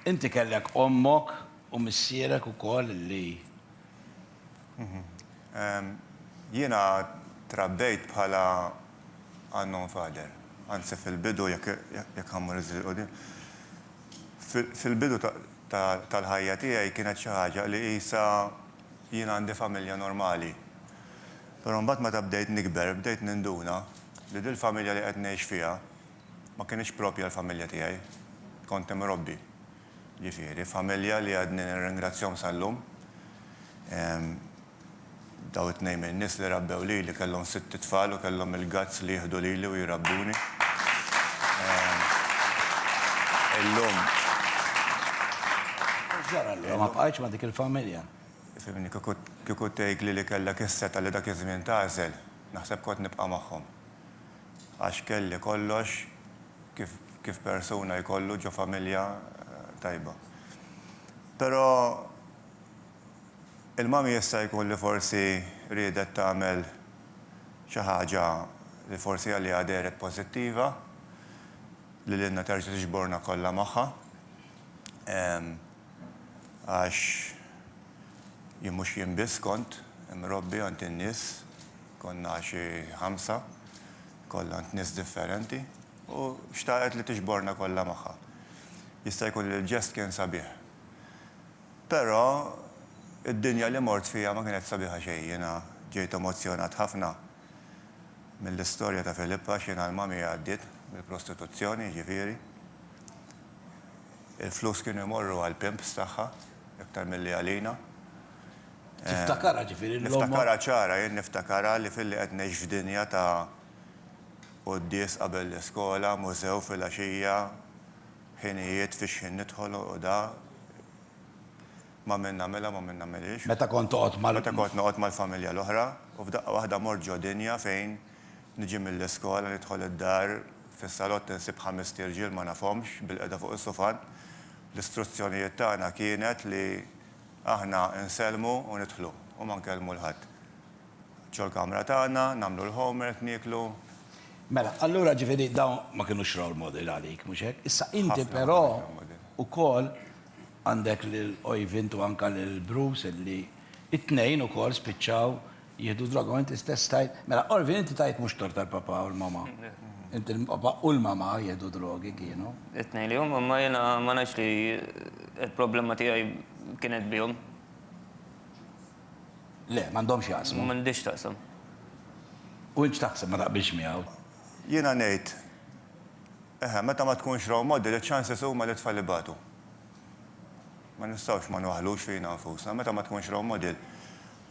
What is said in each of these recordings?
Inti kellek ommok u missierek ukoll li. Jiena trabbejt bħala unknown father. Anzi fil-bidu jekk ħa mmur iżjed 'il quddiem, fil-bidu tal-ħajja tiegħi kienet xi ħaġa li qisha jien għandi familja normali. Però mbagħad meta bdejt nikber bdejt ninduna li dil-familja li qed ngħix fiha, Ma kinitx proprja l-familja tiegħi. Kont imrobbi, ġifieri, f'familja li għadni nirringrazzjahom sal-lum. Dawn it-tnejn min-nies li rabbew lili kellhom sitt itfal u kellhom il-guts li jieħdu lili u jrabbuni. Illum. U x'ġara allura? Ma bqajtx ma' dik il-familja? Fhimni, kieku tgħidli li kellek is-setgħa li dak iż-żmien tagħżel, naħseb kont nibqa' magħhom. Għax kelli kollox kif kif persuna jkollu ġo familja tajba. Pero il-mommy jista' jkun li forsi riedet tagħmel xi ħaġa li forsi għaliha dehret pożittiva, li lilna terġa' tiġborna kollha magħha. Għax jien mhux jien biss kont imrobbi għand in-nies, konna xi ħamsa, kollha għand nies differenti, u xtaqet li tiġborna kollha magħha. Jista' jkun li l-ġest kien sabiħ. Però d-dinja li mort fiha ma kienet sabiħa xejn. Jiena ġejt emozzjonat ħafna mill-istorja ta' Filippa għax jiena l-mami għaddiet mill-prostituzzjoni, jiġifieri. Il-flus kienu jmorru għall-pimps tagħha iktar milli għalina. Tiftakarha ġifieri l-omm. Niftakarha ċara, jien niftakarha li filli qed ngħix f'dinja ta' quddies qabel l-iskola, mużew filgħaxija, ħinijiet fi xħin nidħol u da, ma' min nagħmilha ma' min nagħmilhiex. Meta kont toqgħod mal. Meta kont noqgħod mal-familja l-oħra u f'daqqa waħda mort ġo dinja fejn Niġi mill-iskola, nidħol id-dar, fis-salott insib ħamest irġiel ma nafhomx bilqiegħda fuq is-sufan. L-istruzzjonijiet tagħna kienet li aħna nsellmu u nidħlu u ma nkellmu 'l ħadd. Ġo l-kamra tagħna, nagħmlu l-homework, nieklu. Mela, allura ġifieri dawn ma kinux role model għalik, mhux hekk? Issa inti però ukoll għandek lil Oivind u anke lil Bruce li t-tnejn ukoll spiċċaw Jieħdu d-droga u inti stess tajt, mela Orvin inti tajt mhux tort għall-papà u l-mamà. Inti l-papà u l-mamà jieħdu drogi kienu. It-tnejn li huma, imma jiena ma ngħidx li l-problema tiegħi kienet bihom. Le, m'għandhomx jaqsmu. M'għandhiex taqsam. U int x'taħseb, ma taqbilx miegħu? Jiena ngħid, eħe, meta ma tkunx role model, iċ-chances huma li t-tfal ibatu. Ma nistgħux ma nwaħħlux fina nfusna, meta ma tkunx role model,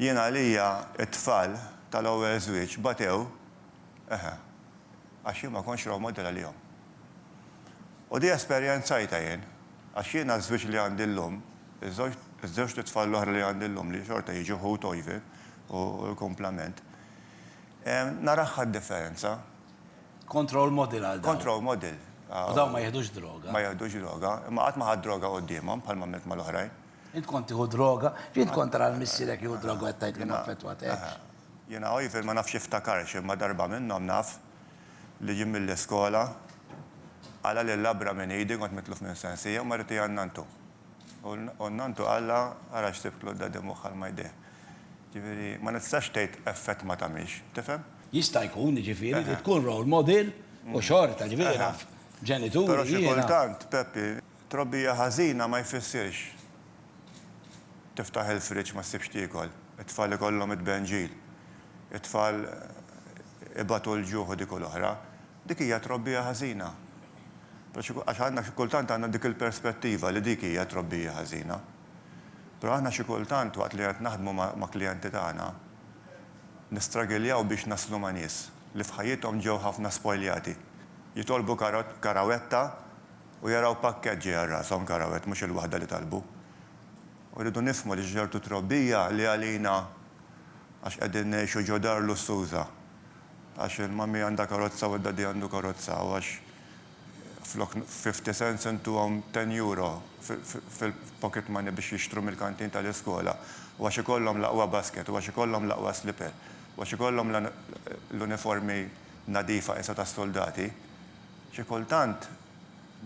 Jien għalija t-tfal tal-ewwel żwieġ batew, eħe, għax jien ma kontx role model għalihom. U di esperjenzajtha jien, għax jiena ż-żwieġ li għandi llum, iż-żewġt itfal l-oħra li għandi llum li xorta jiġu ħut ojvi u l-kumplament, narahha d-differenza. Kont role model għal dawn. Kont role model. U dawn ma jiħdux droga. Ma jiħdux droga, imma qatt ma ħadt droga quddiemhom bħalma għamilt mal-oħrajn. Int kont tieħu droga? X'int kont tara lil missierek jieħu droga u qed tgħid li ma affettwatekx? Jiena Oivill ma nafx jiftakarx imma darba minnhom naf li ġie mill-iskola, qala' lil labra minn idi, kont mitluf minn Sansija u marriti għand nanntu. U n-nanntu qallha ara x'sibtlu d-daddy mwaħħal ma' jdejh. Ġifieri ma nistax tgħid effett ma tagħmilx, tifhem? Jista' jkun, jiġifieri, li tkun role model u xorta, ġifieri naf ġenituri jiena. Però xi kultant, Peppi, Trobbija ħażina ma jfissirx tiftaħ il-friġġ ma ssibx tiekol, it-tfal ikollhom it-tbenġil, it-tfal ibatu l-ġuħ u dik u l-oħra. Dik hija trobbija ħażina. Però xi għax aħna xi kultant għandna dik il-perspettiva li dik hija trobbija ħażina. Però aħna xi kultant waqt li qed naħdmu ma' ma' klijenti tagħna nistragiljaw biex naslu ma' nies li f'ħajjithom ġew ħafna spojljati. Jitolbu kara karawetta U jaraw pakkett ġej għal rashom, karawet, mhux il-waħda li talbu. U rridu nifhmu li xi ċertu trobbija li għalina, għax qegħdin ngħixu ġo dar lussuża, għax il-mummy għandha karozza u d-daddy għandu karozza u għax flok fifty cents intuhom ten euro fil-pocket money biex jixtru mill-kantin tal-iskola u għax ikollhom l-aqwa basket u għax ikollhom l-aqwa slipper u għax ikollhom l-uniformi nadifa qisha tas-suldati, Xi kultant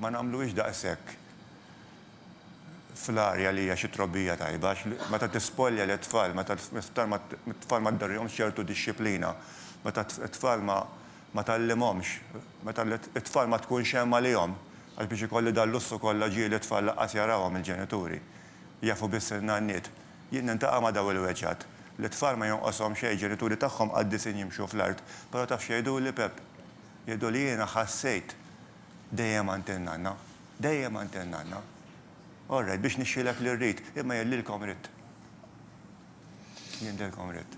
ma nagħmluhiex daqshekk fl-arja li hija xi trobbija tajba għax meta tispolja lit-tfal, meta t-tfal ma tdorrihomx ċertu dixxiplina, meta t-tfal ma tgħallimhomx, meta t-tfal ma tkunx hemm għalihom, għax biex ikolli dal-lussu kollha ġieli t-tfal lanqas jarahom il-ġenituri, jafu biss in-nanniet. Jien nintaqa' ma' dawn il-weġgħat. Lit-tfal ma jonqoshom xejn, ġenituri tagħhom qaddisin jimxu fl-art, però taf x'jgħiduli, Pepp? Jgħidu li jiena ħassejt dejjem għand in-nanna. Dejjem għand in-nanna. All right, biex nixhilek li rrid, imma jgħidlilkom ridt. Jgħidilkom ridt.